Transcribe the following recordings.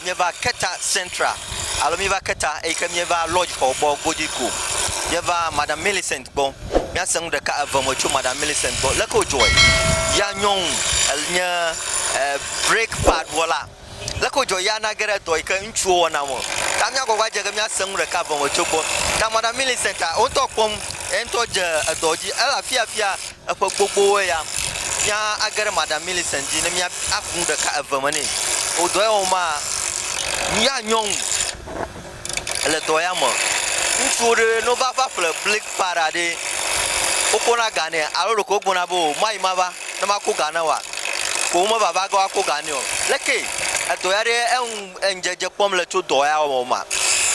míeva keta central alo míeva keta eyi ke míeva lodge xɔ gbɔ godui ko míeva madam milicent. gbɔ. Míase nu ɖeka eve me tso Madam Millicent gbɔ. Leke wodzɔe? Yea nyɔnu enye break pad wɔla. Leke wodzɔe? Yea nage ɖe dɔ yi ke ŋutsuwo wɔna me. Ta míagbɔ va dze ge míase nu ɖeka eve me tso gbɔ. Ta Madam Millicent a, wo ŋutɔ kpɔm ye ŋutɔ dze edɔ dzi. Ele afia fia eƒe gbogbowoe ya. Mía age ɖe Madam Millicent dzi ne mía aku nu ɖeka eve me nɛ. Wò dɔ ye wɔm maa? Yea nyɔnu. le dɔ ya me. Ŋutsuwo ɖe no va va ƒle blik pa ɖa ɖe, woko na ga nɛ alo ɖeko wogbo na be o mayi mava ne ma ko ga ne wa ko wo me va va ge wa ko ga nɛ o. Leke edɔ ya ɖe eŋ eŋdzedze kpɔm le tso dɔ ya wɔ wɔ ma?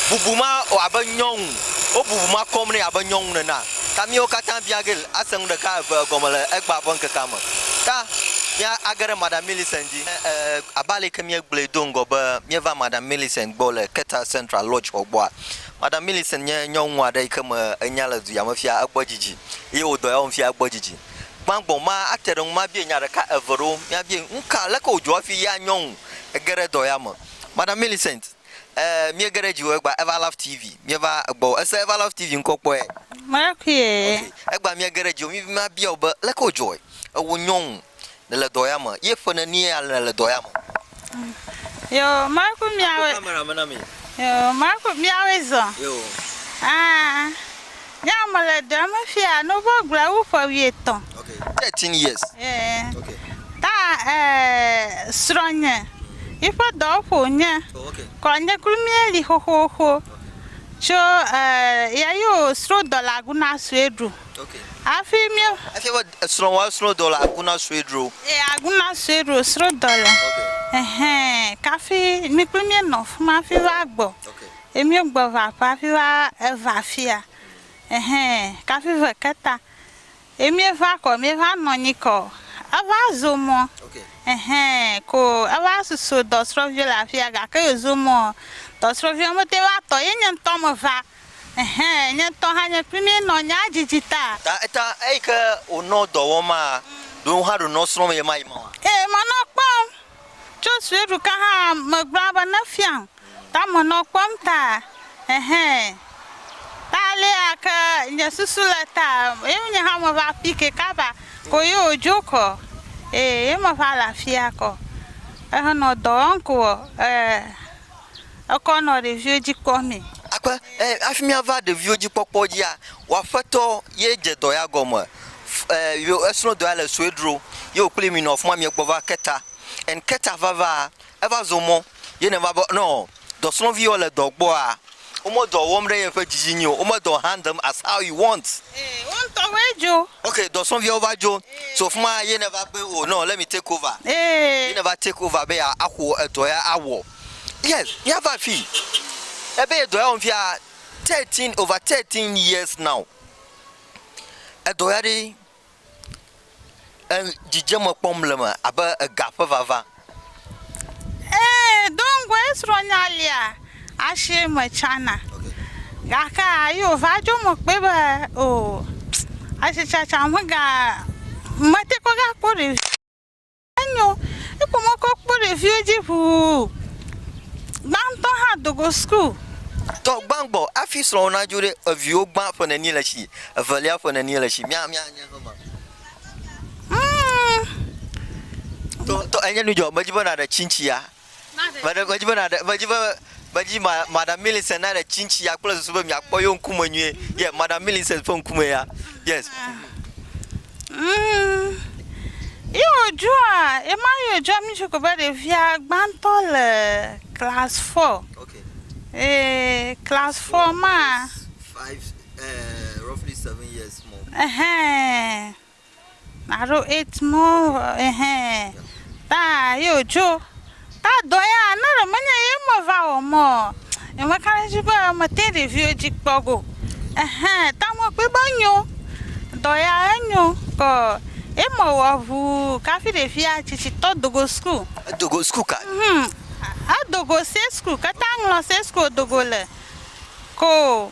Bubu ma wɔ abe nyɔnu, wo bubu ma kɔm nɛ abe nyɔnu nena. Ta miwo kata bia ge ase nu ɖeka eve egɔme le egba ƒe ŋkekea me. Ta mia age ɖe Madam Millicent dzi. Abe aleke míegblɔe do ŋgɔ be míeva Madam Millicent gbɔ le Keta Central Lodge xɔ gbɔa, Madam Millicent nye nyɔnu aɖe yi ke me enya le duya me fia egbɔ dzidzi eye wòdɔ ya wɔm fia egbɔ dzidzi. Gbãgbɔ ma ate ɖe ŋu mabie nya ɖeka eve ɖewo, míabie nu ka leke wòdzɔ hafi ya nyɔnu ege ɖe dɔ ya me. Madam Millicent, ɛɛ, míege ɖe dziwò egbea Ever Love TV, míeva egbɔwò. Èse Ever Love TV ŋkɔ kpɔe? Mekpɔe. Ok, egbea míege ɖe dziwò, mímabia wò be leke wòdzɔe ewò nyɔnu Nèle dɔ ya me. Ye ƒe nenie ale nèle dɔ ya me? Yo, mawe ku miawe. Kpɔ camera me na mi. Yo, mawe ku miawe zɔ. Yo. Ah, nyea mele dɔ ya me fia ne wova gblɔe wu ƒe wuietɔ̃. Ok, thirteen years. Yeah. Ok. Ta eh, srɔ̃nye, yiƒe dɔwɔƒe wònye. Oh, ok. Kɔ nye kpli míeli xoxoxo. Ok. Tso eh, ya yi wò srɔ̃dɔlagu na sue ɖu. Hafi míe. Efia be esrɔ̃wòa srɔ̃ dɔ le Aguna Swedru. E, Aguna Swedru srɔ̃ dɔ le. Ɛhɛn, kafi mi kple míe nɔ fima hafi va gbɔ. E míe gbɔ va aƒe hafi va eva fia. Ɛhɛn, kafi ve keta. E míe va kɔ, míe va nɔ nyi kɔ. Eva zo mɔ. Ɛhɛn, ko eva susu dɔ srɔ̃vio le afia gake yo zo mɔ. Dɔ srɔ̃vio me te va tɔ ye nye ŋtɔ me va. Ɛhɛ, nye ŋutɔ hã nye kpli mí nɔ nyaa djidji ta. Ta eta eyi ke wònɔ dɔ wɔm maa, ɖo hã ɖonɔ srɔ̃m ye ma yi ma. Eye menɔ kpɔm tso sueɖuka hã megblɔa be ne fiam ta menɔ kpɔm ta. Ɛhɛ, ta alea ke nye susu le ta ye nye hã me va fi ke kaba ko ye wòdzo kɔ. Eye ye me va le afia kɔ ehe nɔ dɔ wɔm ko ɔ, e ekɔ nɔ ɖeviwo dzi kpɔ mɛ. Akpe, e, afi mía va ɖeviwo dzi kpɔkpɔ dzia, wò aƒetɔ ye dze dɔ ya gɔme, e, yo esrɔ̃ dɔ ya le sue dro ye wò kpli mi nɔ afima mi gbɔ va keta. And keta va va, eva zɔ mɔ ye ne va be nɔ dɔsrɔ̃ vi yɔ le dɔ gbɔa, Wome dɔ wɔm ɖe yeƒe dzidzidzi o. Wome dɔ hand them as how you want. Ee, wo ŋutɔ woe dzo. Okay, dɔsrɔ̃viawo va dzo. Ee. So fima ye ne va be oh no, let me take over. Ee. Ye ne va take over be ya axɔ edɔ ya awɔ. Yes, mía va afi. Ebe ye dɔ ya wɔm fia thirteen, over thirteen years now. Edɔ ya ɖe dzidzeme kpɔm le eme abe ega ƒe vava. Ee, do ŋgɔe srɔ̃nya lia asi eme tsã na. Gake yi wòva dzɔ me kpɔe be o asitsatsa megate ŋu gakpɔ ɖevi. Enyo, ekpɔ mɔ kɔ kpɔ ɖeviwo dzi ŋuu. Gbãtɔ hã do go school. Tɔ gbãgbɔ afi srɔ̃wò nadzo ɖe eviwo gbã ƒe neni le tsi evelia ƒe neni le tsi mia mia nye hema. Tɔ tɔ enye nu dzɔ medzi be naɖe tsi ŋtsia Meɖe, medzi be nàɖe, medzi be, medzi ma, Madam Millicent naɖe tsintsi ya kple susu be miakpɔ yewo ŋkume nyuie. Yeah, Madam Millicent ƒe ŋkume ya. Yes. Mm, ye wòdzɔa, ye ma ye wòdzɔa mí tsi ko be ɖevia gbãtɔ le class four. Okay. Ee, class four maa, Five, eh, roughly seven years more. ɛhɛɛ, Naɖo eight more ehɛ taa ye wodzo taa dɔ ya ne ɖe menye ye me va wɔ mɔ eme ka ɖe edzi be mete ɖeviwo dzi kpɔ go ehɛ ta me kpɔe be enyo dɔ ya enyo kɔ ye me wɔ ŋu kafi ɖevia tsitsitɔ do go sukul. Edo go sukul ka? Hum edo go se sukul keta ŋlɔ se sukul wodo go le ko.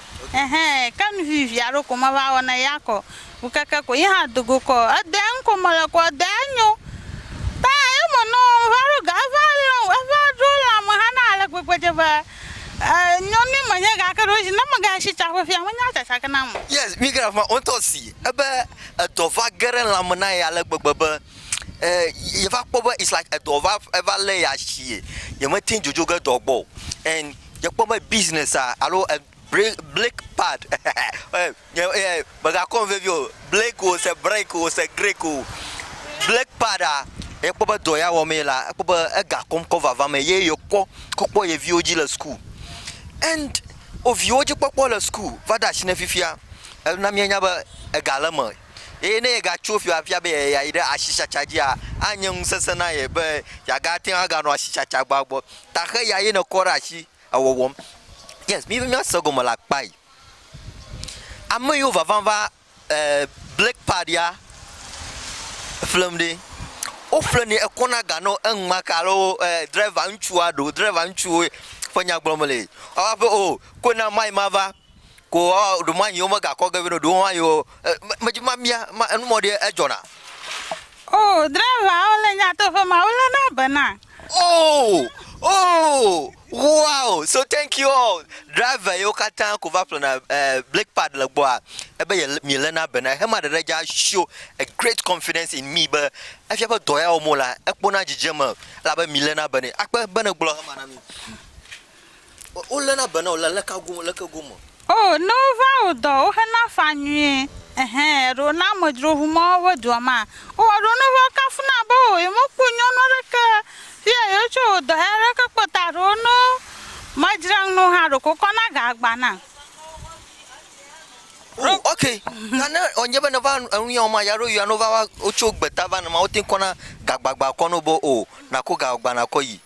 Ɛhɛ, ke nu vivi aɖewo ko meva wɔ na ya kɔ. Ŋu keke ko yi hã do go kɔ. Edɔ eŋ ko mele kɔ, edɔ enyo. Ta ye me nɔ va ɖo ga eva lɔ, eva ɖo lã me hã na ale gbegbe dze be e nyɔnui me nye gake ɖo zi ne me ga shi tsa ƒefia me nya tsatsa ke na me. Yes, mi ke afima woŋtɔ si ebe edɔ va ge ɖe lã me na ye ale gbegbe be e ye va kpɔ be it's like edɔ va eva le ya shie ye me teŋ dzodzo ge dɔ gbɔ o and. Dze kpɔ be business a alo bre break pad nye e megakɔm vevi o break o se break o se greak o break pad a ekpɔ be dɔ ya wɔm ye la ekpɔ be egakɔm kɔ vava me ye yekɔ kɔ kpɔ ye viwo dzi le suku and wo viwo dzi kpɔkpɔ le suku va de asi nɛ fifia ena mienya be ega le eme. Eye ne yegatso fi afia be yeayi ɖe asitsatsa dzia, anye ŋusesẽ na ye be yeagate ŋu aganɔ asitsatsa gbɔa gbɔ. Taxe ya ye nèkɔ ɖe asi ewɔwɔm. Yes, míva míase egɔme le akpa yi. Ame yiwo vava va black pad ya ƒlem ɖi. Woƒlenɛ ekɔna ga nɔ eŋma ke alo driver ŋutsua ɖo driver ŋutsuwo ƒe nya gblɔm le. Woava be o, koe na mayi mava. Ko ɔ, ɖo ma nyi wo me ga kɔ ge vɛ no, ɖo wo ma nyi wo, e, me dzi ma mia, ma enu mɔ ɖe e jɔ na. Oh, driver wo le nyatoƒe ma, wo le na be na. Oh, oh, wow, so thank you all, driver yo kata ko va ƒle na, e, brake pad le gbɔa, e be ye, mi le na be na, hema ɖeɖe dza show a great confidence in me be, efia be dɔ ya wɔm wo lea, e kpɔ na dzidzeme, elabe mi le na be nɛ. Akpe be ne gblɔ hema na mi. Woléna be na wò le aleka gome, aleke gome? O, ne wovaa wò dɔ, wohena fa nyuie. Ɛhɛ, ɖo ne amedzro ʋu mɔ woaʋe dua ma, wowɔ ɖo ne wova kafuna be o, yemekpɔ nyɔnu aɖeke fia yewotso wò dɔ ya ɖeke kpɔ ta ɖo ne womedzra ŋu na wò hã ɖeko kɔ na ga agba na. O, ok, ta ne wònye be nèva enu ya wɔm ma, ya ɖo yɔa ne wova wotso gbeta va ne ma, wote ŋu kɔna gagbagba kɔ na wò be o, nàko ga agba nàkɔ yi.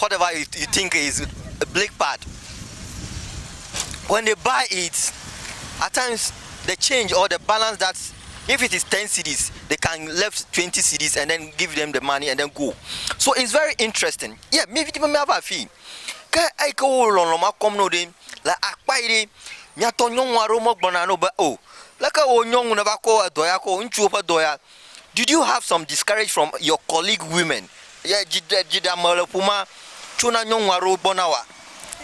whatever you you think is a bleak part when they buy it at times the change or the balance that if it is 10 cedis they can left 20 cedis and then give them the money and then go so it's very interesting yeah mi vi ti be miava afii ke eyi ke wo lɔlɔ ma kɔm no ɖe le akpa yi ɖe miatɔ nyɔnu aɖewo megblɔna no be o leke wo nyɔnu ne va kɔ edɔ ya ko ŋutsuwo ƒe dɔ ya Did you have some discourage from your colleague women? Ye dzi ɖe dzi ɖe ame le ƒo ma tso na nyɔnu aɖewo gbɔ na wa.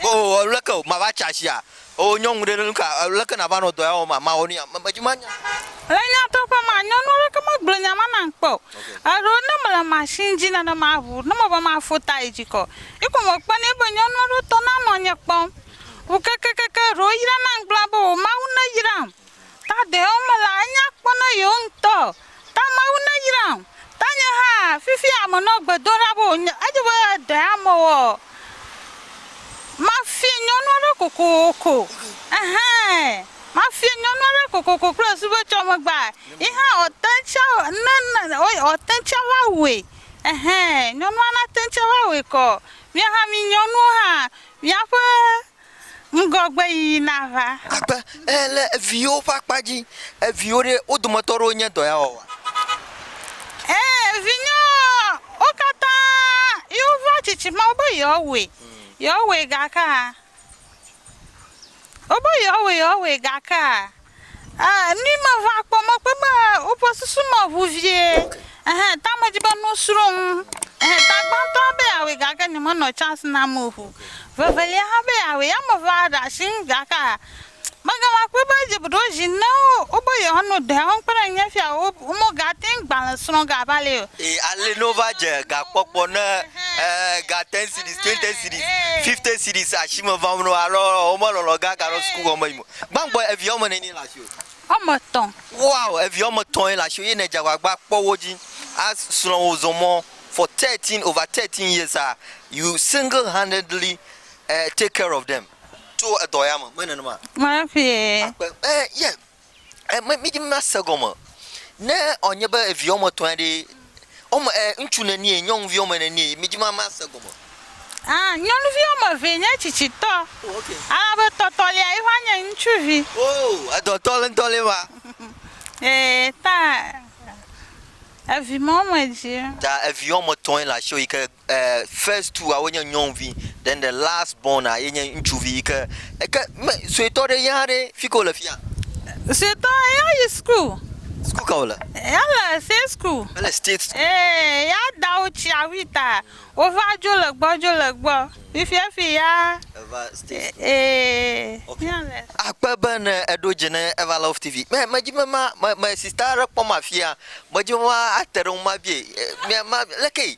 Oh lé ke o ma va tsa sia. Oh nyɔnu ɖe nu ka lé ke na va nɔ dɔ ya wɔm ma ma wɔ nu ya me dzi ma nya. Le nyateƒe ma nyɔnu aɖeke me gblɔ nya ma nam kpe o. Eɖewo ne me le machine dzi nene ma ʋu ne me be ma fo ta yi dzi kɔ. Yi ko me kpɔ nɛ be nyɔnu aɖewo tɔ na nɔ nye kpɔm ʋu kekekeke eɖewo yra nam gblɔ be o mawu ne yram. Ta ɖewo me la, enye akpɔ na yewo ŋutɔ. Ta Mawu neyram. Ta nye hã, fifia menɔ gbe dom ɖa be wònye, edze be ɖe amewɔ mafia nyɔnu aɖe kokoko. Ɛhɛ, mafia nyɔnu aɖe kokoko kple subetsɔmegba. Yi hã wòate ŋu tsɛ ne, ne, wo, wòate ŋu tsɛ va wɔe. Ɛhɛ, nyɔnua nate ŋu tsɛ va wɔe kɔ. Mía hã mí nyɔnuwo hã, míaƒe ŋgɔgbeyiyi nava. Agbe e le eviwo ƒe akpa dzi. Eviwo ɖe, wo dometɔ aɖewo nye dɔyawɔwɔa? E, vinyewo ɔ, wo katã yi wova tsitsi ma wobe yewoawɔe, yewoawɔe gakea, wobe yewoawɔe, yewoawɔe gakea, Ɛɛ, ni meva kpɔ mɔkpɔe be woƒe susu me ʋu vie. Ɛhɛ, ta medi be nu srɔ̃m. Ɛhɛ, ta gbãtɔa be yeawɔe gake nyemenɔ chance nam o ŋu. Vevelia hã be yeawɔe. Ya mevaa ɖe asi ŋu gake megava kpɔe be edze be ɖewo zi ne wobe yewoano ɖe wo kpe ɖe ŋunye fia wo womegate ŋu gbalẽ srɔ̃ ge abe alea o. Ɛɛ, ale ne wova dze gakpɔkpɔ ne ɛɛ ga ten cedis, twenty cedis, fifty cedis asi me vam na wo alɔ womelɔlɔ ge aganɔ sukuxɔ me yim o. Gbãgbɔ evi woame ene ye le asiwò. Woame etɔ̃. Wow evi woame etɔ̃ ye le asiwò ye nèdze agbagba kpɔ wo dzi a srɔ̃ wo zɔ mɔ for thirteen over thirteen years a you single handedly eh take care of them tso edɔ ya me, menye nenema? Maƒee. Akpe eh yeah eh me mi dzi mi ma se gɔme ne ɔ nye be evi woame etɔ̃ ya ɖee Wome e ŋutsu nenie nyɔnuvi wome nenie mi dzima mase gɔme. A nyɔnuvi wɔme evee nye tsitsitɔ. Oh ok. Alabe tɔtɔlia yi va nye ŋutsuvi. Oh edɔ tɔ le ŋtɔ le va. Ee ta evi ma wome dzi. Ta evi wɔme tɔe le asiwò yike. E, first two awo nye nyɔnuvi, then the last born a ye nye ŋutsuvi yi ke, eke me suetɔ ɖe ya ɖe fi ke wole fia? Suetɔ ya yi school. School ka wole? Ya le state school. Ele state school. Ee, ya dawo tsia wi ta wo va dzo le gbɔ dzo le gbɔ. Fifia fi ya. Eva state school. Ee, ya le. Akpe be ne eɖo dze ne Eva Love TV. Me me dzi be ma me me sista aɖe kpɔm afia. Me dzi be ma ate ɖe ŋu ma bie e mia ma lekee.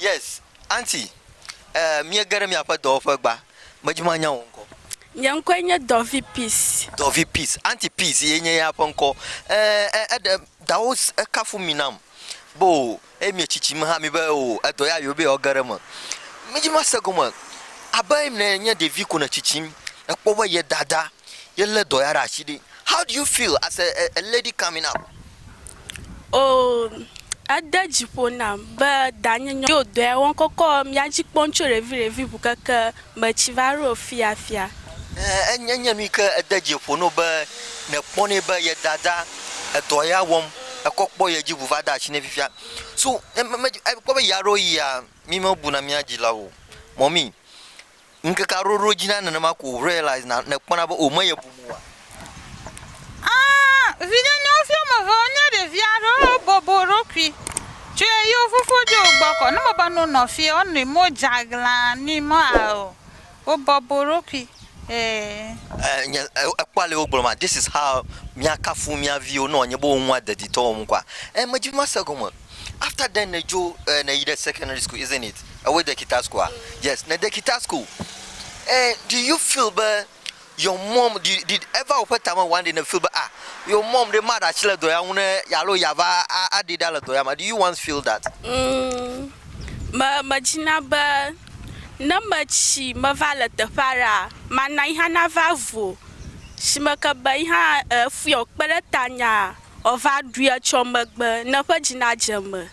Yes aunty eh miege ɖe miaƒe dɔwɔƒe gba medzi manya wò ŋkɔ. Nye ŋkɔe nye Dɔvi Peace. Dɔvi Peace aunty Peace ye nye ya ƒe ŋkɔ eh eh eɖe dawo kafu mi nam be o eye mie tsitsi me hã mi be o edɔ ya yewo be yewoa ge ɖe eme. Medzi mase gɔme abe ne nye ɖevi ko ne tsitsim ekpɔ be ye dada ye le dɔ ya ɖe asi ɖe how do you feel as a a lady coming up. Oo, ede dzi ƒo nam be danye nyɔ yo dɔe wɔm kɔkɔ mía dzi kpɔm tso ɖeviɖevi ŋu keke metsi va ɖo fiafia. Ɛɛ, enye enye nui ke ede dzi ƒo nɛ be nekpɔnɛ be ye dada edɔ ya wɔm ekɔ kpɔ ye dzi ŋu va de asi nɛ fifia. So, ne me, me, ekpɔ be yea ɖo yia, mí mebuna mía dzilawo o. Mɔmi, Ŋkeke aɖewo ɖo edzi na nenema ko wò realize na nèkpɔna be wò meyɛ bum oa? Ãa, vinye nyɔnuvi woame eve wonye ɖevi aɖewo eye wobobo wo ɖokui tso eye wo fofo dzo wo gbɔ kɔ. Ne mewɔ be ne wonɔ fie wonɔe me wodze aglã nui mɔ ao wobobo wo ɖokui ee. E, nye, e, ekpɔ ale wogblɔ ma, this is how míakafu mía viwo ne wòanye be wo ŋua deditɔ wɔm kɔa? E, medi be mase egɔme. After then ne dzo eh, ne yi ɖe secondary school isn't it? Ewoe de kita school a? Yes, ne de kita school. Eh, do you feel be your mom did, did ever woƒe tame one day ne feel be ah, your mom ɖe maɖe asi le dɔ ya ŋu ne alo yeava a- aɖee ɖa le dɔ ya me. Do you once feel that? Mm, me medzina be ne metsi meva le teƒe aɖea, mana yi hã nava vu o. Shimeke be yi hã eh, efuyɔ kpe ɖe tanya Ɔva ɖui etsɔ megbe ne ƒe dzi na dze eme.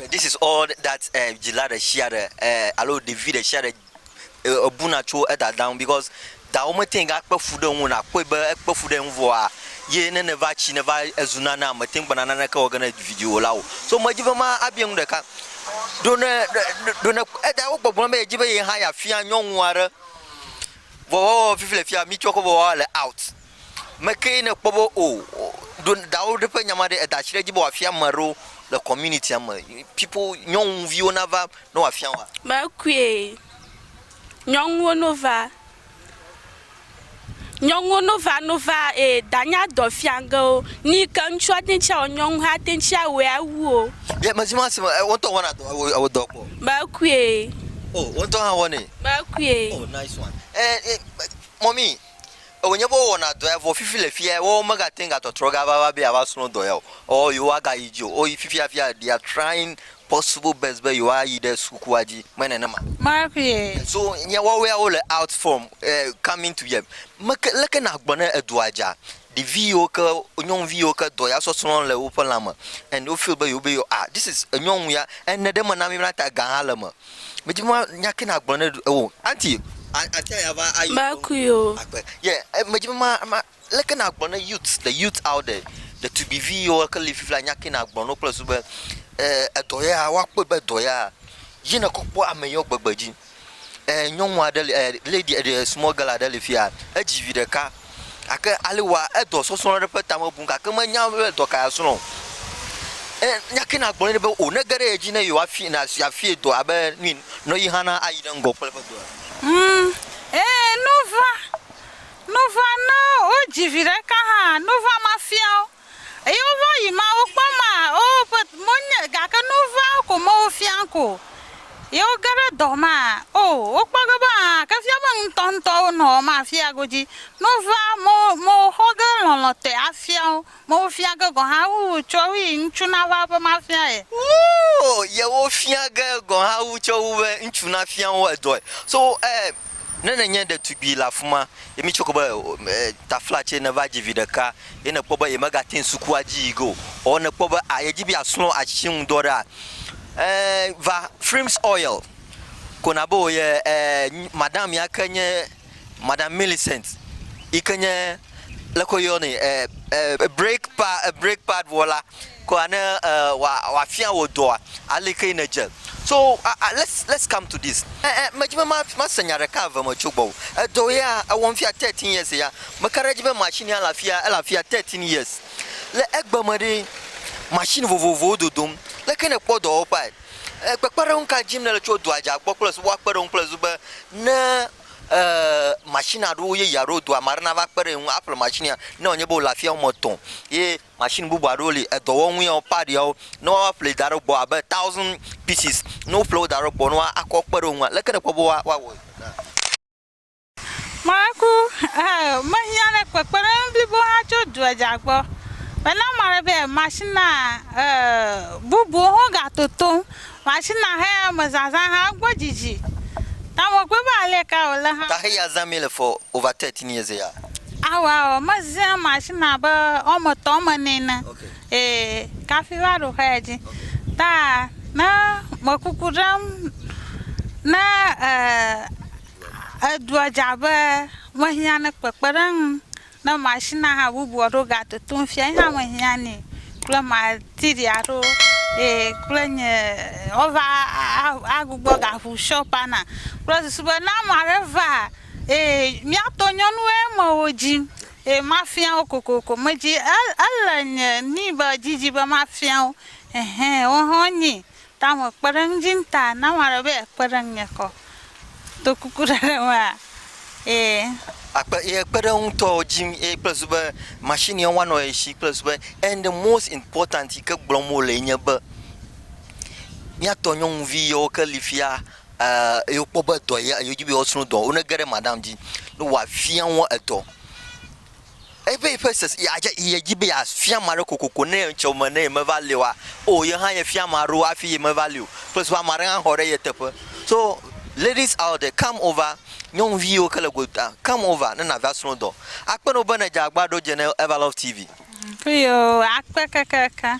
This is all that dzila ɖeshiaɖe alo ɖevi ɖeshiaɖe ebuna tso edada ŋu because dawo mete ŋu akpe fu ɖe ŋu o nakpɔe be ekpe fu ɖe ŋu vɔa ye ne neva tsi neva zu nanea mete ŋu gbena naneke wɔ ge ne vidzĩwo la o so medzi be ma abia nu ɖeka ɖo ne ɖo ne edawo gbɔgblɔ be yedzi be ye hã yafia nyɔnu aɖe vɔ woawɔ fifi le fia mitsɔ kɔ vɔ woawa le out. Mekee nèkpɔ be o ɖo dawo ɖe ƒe nya ma ɖe eda tsi ɖe edzi be wòafia ame aɖewo le communitya me, people, nyɔnuviwo nava ne wòafia woa? Mekue, nyɔnuwo no va, nyɔnuwo no va no va eye da nya dɔ fia ge wo. Nu yi ke ŋutsu ate ŋutsi awɔ nyɔnu hã ate ŋutsi awɔe awu wo. Ye mezi ma si me wo ŋutɔ wɔna dɔ ewɔ ewɔ dɔ kpɔ? Mekue. O wo ŋutɔ hã wɔnɛ? Mekue. O nice one. E e mɔmi Ewɔ nye be wowɔna dɔ ya vɔ fifi le fia woawo megate ŋu gatɔtrɔ gava va be yewoava srɔ̃ dɔ ya o. Ɔɔ, yewogagayi dzi o. Woyi fifiafia, they are trying possible best be yewoayi ɖe sukukua dzi. Menye nenema? Marie. So nye wɔwɔeawo le out from, eh, coming to yet. Meke, leke nàgblɔ ne edua dza? Ɖevi yiwo ke, nyɔnuvi yiwo ke dɔ ya sɔsrɔ̃ le woƒe lã me and wo feel be yewo be yewo ah this is nyɔnu ya and ne ɖe mena mi mla ta ga hã le eme. Medi be nya ke nagblɔ ne ewɔ aunty atia ya va ayi Makui o. agbe yeah medi be ma ma leke nagblɔ ne youth the youth out there ɖetugbivi yiwo ke li fifia nya ke nagblɔ no kple susu be eh edɔ ya woakpɔe be edɔ ya ye ne kɔ kpɔ ame yewo gbegbe dzi. ɛɛ nyɔnu aɖe le ɛɛ lady ɛɛ small girl aɖe le fi ya. Edzi vi ɖeka gake ale wòa, edɔ sɔsrɔ̃ ɖe eƒe tame bum gake menya be dɔ kae yeasrɔ̃ o. Eye nya kae nàgblɔ nɛ be wò nege ɖe edzi ne yewoafia na yeafia dɔ abe nu yi ne yi hã na ayi ɖe ŋgɔ kple eƒe dɔa. Ŋ, ɛɛ nu ʋã. Nu ʋã ne wodzi vi ɖeka hã, nu ʋã mafia wo. Eye wova yi ma wokpɔ ma o ƒe mo nye gake nu va ko me wo fia ko ye wo ge ɖe dɔ ma o wo kpɔ ge be a ke fia be ŋutɔ ŋutɔ wo nɔ ma fia godzi nu va mo mo wo xɔ ge lɔlɔ te a fia wo mo wo fia ge gɔ ha wu wo tsɔ wi ŋutsu na va be ma fia ye wo ye wo fia ge gɔ ha wu tsɔ wu be ŋutsu na fia wo edɔe so e. Ne nènye ɖetugbui le afi ma ye mitsɔe kɔ be tafla tse nèva dzi vi ɖeka ye nèkpɔ be yemegate ŋu sukua dzi yi ge o ɔɔ nèkpɔ be a yedzi be yeasrɔ̃ atsitsi ŋu dɔ ɖea, ẽ, va Freem's Oil ko nàbe wò ye. Ẽ, madam ya ke nye Madam Millicent yi ke nye lé ke woyɔnɛ break pad break pad wɔla ko ne wòafia wò dɔa ale ke nèdze so let's let's come to this eh, eh, medzi be mase nya ɖeka eve me tso gbɔwò edɔ ya ewɔm fia 13 years ya meka ɖe edzi be machine ya le afia ele afia 13 years le egbe me ɖe machine vovovowo dodom leke ne kpɔ dɔwɔƒea kpekpeɖeŋu ka dim nele tso dɔa dza gbɔ kple subɔa kpeɖeŋu kple zu be ne machine aɖewo yeye aɖewo do, ame aɖe nava kpe ɖe ye ŋu aƒle machine ya, ne wònye be wòle afi woame etɔ̃ ye machine bubu aɖewo li, edɔwɔnu yawo, part yawo, ne woaƒlee da ɖe egbɔ abe thousand pieces, ne woƒle wo da ɖe egbɔ ne woakɔ kpe ɖe wo ŋu a, leke nèkpɔ be woawɔe na? Maku, Ee, mehiã ɖe kpekpeɖeŋu blibo hã tso dua dza gbɔ. Mena ame aɖe be machine bubuwo hã gatotom. Machina he me zazã hã gbɔ dzidzi ta me kpɔe be ale ka wo le hã. Ta he ya zã mi le for over thirty ni eze ya. Awa ɔ me zẽ machina abe ɔme tɔ me ni ene ee kafi va ɖo xe dzi ta ne me kuku ɖem ne e edua dza be me hiã ne kpekpeɖeŋ Ne machine aha bubu aɖewo ga totom fia yi hã me hiã ni kple material aɖewo eye kple nye wo va a gbugbɔ ga ʋu shop a na kple susu be ne ame aɖe va eye mía tɔ nyɔnu ye me wo dzi eye ma fia wo kokoko me dzi ele nye ni be dzi dzi be ma fia wo ehɛ woawo hã wo nyi tame kpeɖeŋudzi ŋta na ame aɖe be ye kpeɖe ŋunye kɔ do kuku ɖe ɖe me a e. Akpe ye kpeɖeŋutɔ dzi eye kple zu be machine ye wanɔ ye shi kple zu be and the most important yi ke gblɔm wo le nye be mía tɔ nyɔnuvi yewo ke li fia e ye wo kpɔ be edɔ ye wodzi be yewo sro dɔ wo ne ge ɖe madame dzi ne woa fia wo edɔ. Ebe eƒe sese yeadze ye dzi be yeafia ame aɖe kokoko ne ŋcɛ wo me ne yemeva li oa, o ye hã yefia ame aɖewo hafi yemeva li o. Ƒe so ame aɖe hã xɔ ɖe ye teƒe. So ladies out there come over, nyɔnuviwo ke le gotaa come over ne nàva srɔ̃ dɔ. Akpe na wò be ne dze agbagba ɖo dze ne Evalove TV. Eyoo akpe kekeake.